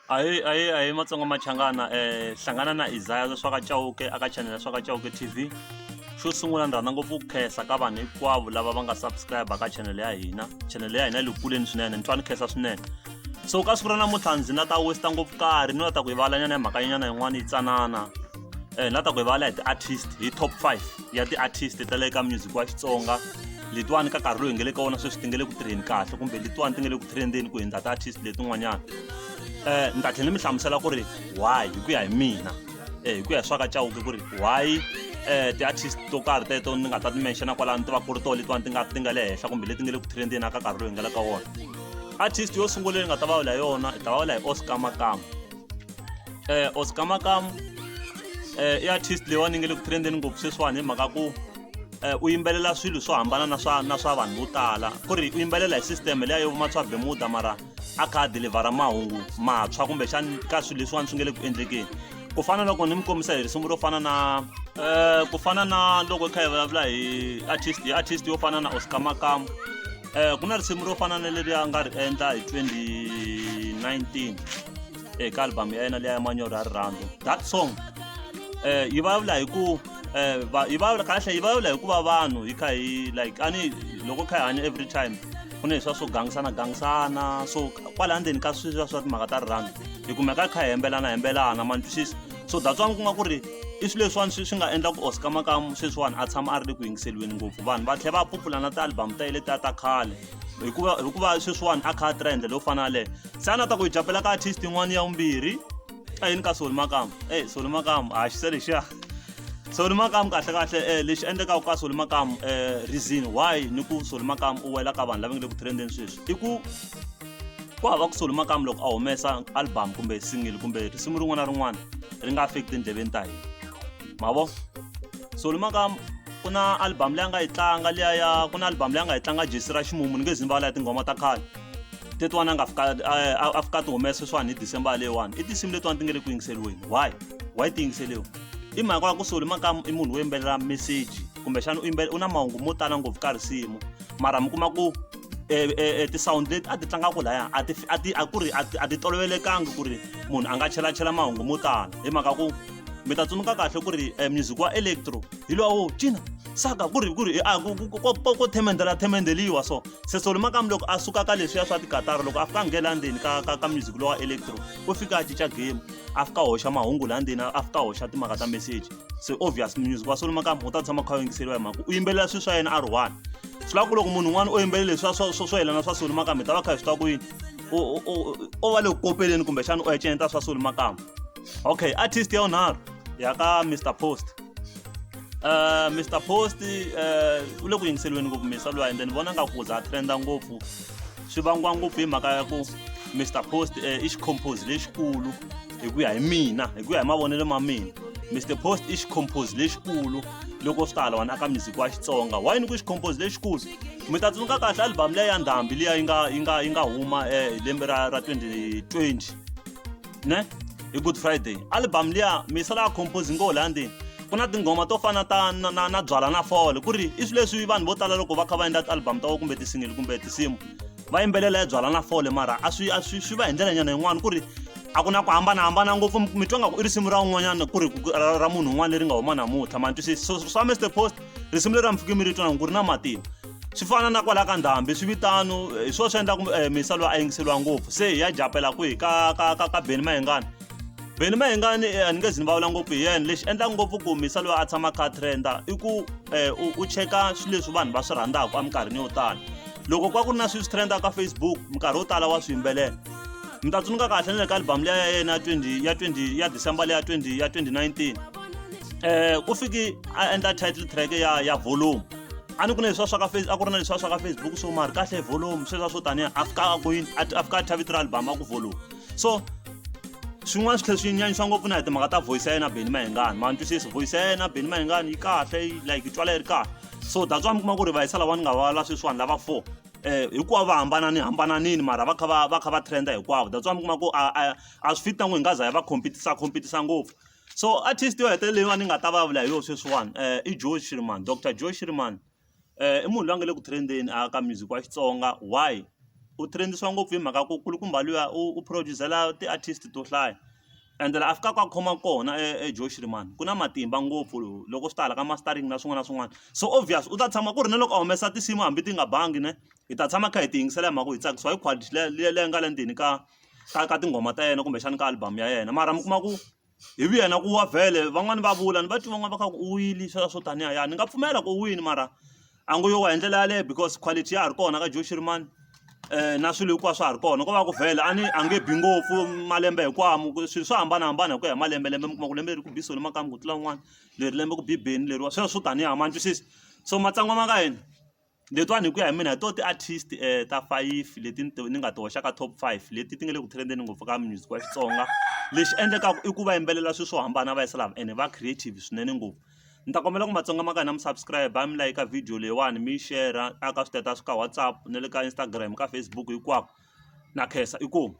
ahee ahee ahee matsonga machangana um hlangana na isaya za swa ka cawuke aka chanele swa ka cawuke t v xo sungula ni rhandza ngopfu ku khensa ka vanhu hinkwavo lava va nga subscribe ka chanele ya hina chanele ya hina yi le kuleni swinene ni twa ni khensa swinene so ka siku ra namuntlha ndzi na ta westa ngopfu karhi ni la ta ku yivalanyana hi mhakanyana yin'wana yi tsanana um ni la ta ku yivala hi ti-artist hi top five ya ti-artist ta le ka music wa xitsonga letiwani ka nkarhi lowu hi nge le ka wona sweswi ti nge le ku tirheni kahle kumbe letiwani ti nge le ku trendeni ku hundza ti-artist letin'wanyana um ni ta tlhela ni mi hlamusela ku ri why hi ku ya hi mina um hi ku ya hi swa ka cawuke ku ri why um ti-artist to karhi teto ni nga ta ti menxana kwalaho ni tiva ku ri tona letiwani ti nga ti nga le henhla kumbe leti nge le ku trendeni aka nkarhi lowu hi nga le ka wona artist yo sungula leyi ni nga ta va vula hi yona hi ta va vula hi oscar makama eh Oscar Makamu eh i artist leyi wa ni nge le ku trendeni ngopfu sweswiwani hi mhaka ku eh u yimbelela swilo swo hambana na swa na swa vanhu vo tala ku ri u yimbelela hi system leya yo vuma swa bemuda mara a kha a delivhara mahungu mantshwa kumbexani ka swilo leswiwani swi nge le ku endlekeni ku fana loko ni mi kombisa hi risimu ro fana na um ku fana na loko hi kha hi vulavula hi artist hi artist yo fana na Oscar Makamu eh ku na risimu ro fana na leri a nga ri endla hi 2019 eh ka album ya yena leya manyoro ya rirhandzu that song eh yi vulavula hi ku eh va- yi vulavula kahle yi vulavula hi ku va vanhu hi kha hi like ani loko hi kha hi hanya every time ku na leswiya swo gangisana gangisana so kwala ndzeni ka sweswiya swa timhaka ta rirhandzu hi kumeka hi kha hi hembelana hembelana ma ni twisisa so that's why ku nga ku ri i swilo leswiwani swi swi nga endla ku oscar makamu sweswiwani a tshama a ri le ku yingiseriweni ngopfu vanhu va tlhela va phupula na ti-album ta yele ta ta khale hikuva hikuva sweswiwani a kha a tirha hi ndlela yo fana yaleyo se a na ta ku hi japela ka artist yin'wana ya vumbirhi a yini ka soli makamu e soli makamu a xise lexiya soli makamu kahle kahle um lexi endlekaka ka soli makamu um reason why ni ku soli makamu u wela ka vanhu lava nge le ku trendeni sweswi i ku ku hava ku soli makamu loko a humesa album kumbe singili kumbe risimu rin'wana na rin'wana ri nga fiki tindleveni ta hina mavo soli makamu ku na album leyi a nga yi tlanga liya ya ku na album leyi a nga yi tlanga jesi ra ximumu ni nge zi ni vala ya tinghoma ta khale tetiwani a nga fika a fika ti humesa swani hi december leyiwani i tinsimu letiwani ti nge le ku yingiseriweni why why ti yingiseriwa i mhaka ya ku soli makamu i munhu wo yimbelela meseji kumbexana u yimbelela u na mahungu mo tala ngopfu ka risimu mara mi kuma ku e, e, e ti-sound leti a ti tlangaka laya a ti a ti a ku ri a ti a ti tolovelekanga ku ri munhu a nga chelachela mahungu mo tala hi mhaka ku mi ta tsundzuka kahle ku ri e, music wa electro hi lowo cina saka ku ri ku ri a ko themendela themendeliwa so se solo makamu loko a suka ka leswiya swa tikatara loko a fika a nghena ndzeni ka ka ka music lowa electro u fika a cinca game a fika a hoxa mahungu laha ndzeni a fika a hoxa timhaka ta message se obvious music wa solo makamba u ta tshama kha yingiseriwa hi mhaka u yimbelela swilo swa yena a ri one swi lava ku loko munhu un'wana o yimbelela leswi swa swa swa yelana swa solo makamba hi ta va kha hi swi twa ku yini o va le ku kopeleni kumbexana u eceneta swa solo makamba okay artist ya unharhu ya ka mr post Uh, Mr Post uh, u le ku yingiseliweni ngopfu misa luwa and then vona nga ku za trenda ngopfu swi vangiwa ngopfu hi mhaka ya ku Mr Post uh, i xicompose lexikulu hi ku ya hi mina hi ku ya hi mavonelo ma mina mr post i xicompose lexikulu loko swi ta halawani aka music wa xitsonga why ni ku xicompose lexikulu mi ta tsundzuka kahle album leyi ya ndhambi liya yi nga yi nga yi nga huma hi eh, lembe ra ra 2020 ne hi good friday album liya mi sala compose ngo la ndini ku na tinghoma to fana ta na, na, na byala na fole ku ri i swilo leswi vanhu vo tala loko va kha va endla ti-album ta vo kumbe ti-single kumbe tinsimu va yimbelela ya byala na fole mara a swi a swi swi va hi ndlela nyana yin'wana ku ri a ku na ku hambanahambana ngopfu mi twa nga ku i risimu ra un'wanyana ku ri ra munhu un'wana leri nga huma namuntlha ma twisisi so swa mr post risimu leri a mi fike mi ri twa ku ri na matimba swi fana na kwala ka ndhambi swi vitano eh, hi swona swi endlaku um eh, misalo a yingiseriwa ngopfu se hi ya japela kwihi ka ka ka ka beni mayengana Benny Mayengani eh, a ni nge zi ni vulavula ngopfu hi yena lexi endlaka ngopfu ku humisa loyi a tshamaka a trenda i ku um u cheka swilo leswi vanhu va swi rhandzaka eminkarhini yo tala loko ku va ku ri na swilo swi trenda ka facebook minkarhi yo tala wa swi yimbelela mi ta tsundzuka kahle na le ka albhamu leya ya yena ya 20 ya 20 ya december leya 20 ya 2019 um ku fiki a endla title track ya ya volume a ni ku na leswiwa swa ka face a ku ri na leswiwa swa ka facebook so mari kahle volume sweswiwa swo tanihi afika kwini afika a thavitira album a ku volume so swin'wana swi tlhela swi nyanyisa ngopfu na hi timhaka ta voice ya yena Benny Mayengani ma ntwisisa voice ya yena Benny Mayengani yi kahle yi like yi twala yi ri kahle so that's why mi kuma ku ri vayisa lava ni nga va la sweswiwani lava four eh hinkwavo va hambanani hambananini mara va kha va va kha va trenda hinkwavo that's why mi kuma ku a a a swi fit na ku hi nga za hi va compete-a compete-a ngopfu so artist yo hetelela leyiwani ni nga ta vulavula hi yona sweswiwani i Joe Shirimani doctor Joe Shirimani. i munhu loyi a nga le ku trend-eni a ka music wa Xitsonga why u trend-isiwa ngopfu hi mhaka ku kulukumba luya u produce-zela ti-artist to hlaya ende laha a fikaka a khoma kona eJoe Shirimani ku na matimba ngopfu loko swi ta hala ka mastering na swin'wana na swin'wana so obvious u ta tshama ku ri na loko a humesa tinsimu hambi ti nga bangi ne hi ta tshama hi kha hi ti yingisela hi mhaka ku hi tsakisiwa hi quality leyi leyi nga le ndzeni ka ka ka tinghoma ta yena kumbexana ka album ya yena mara mi kuma ku. hi vuya na ku wa vhele van'wani va vula ni va twi van'wani va kha ku u wile swa swo taniya ya ni nga pfumela ku u wini mara a ngo yo wa hi ndlela yaleyo because quality ya ha ri kona ka Joe Shirimani na swilo hinkwaswo swa ha ri kona ko va ku vhele a ni a nge bi ngopfu malembe hinkwamu swilo swo hambanahambana hi ku ya hi malembe lembe mi kuma ku lembe leri ku bi solo makamu ku tlula un'wana leri lembe ku bi beni leriwa sweswo swo taniya ma ni twisisa so matsongo ma ka hina. Letiwani hi ku ya hi mina hi tona ti-artist ta five leti ni ti ni nga ti hoxaka top five leti ti nga le ku trend-eni ngopfu ka music wa Xitsonga lexi endlekaka i ku va yimbelela swilo swo hambana va yisa lava ene va creative swinene ngopfu ni ta kombela ku matsonga ma ka hina mi subscribe mi like ka video leyiwani mi yi share a ka status ka WhatsApp na le ka Instagram ka Facebook hinkwako na khensa inkomu.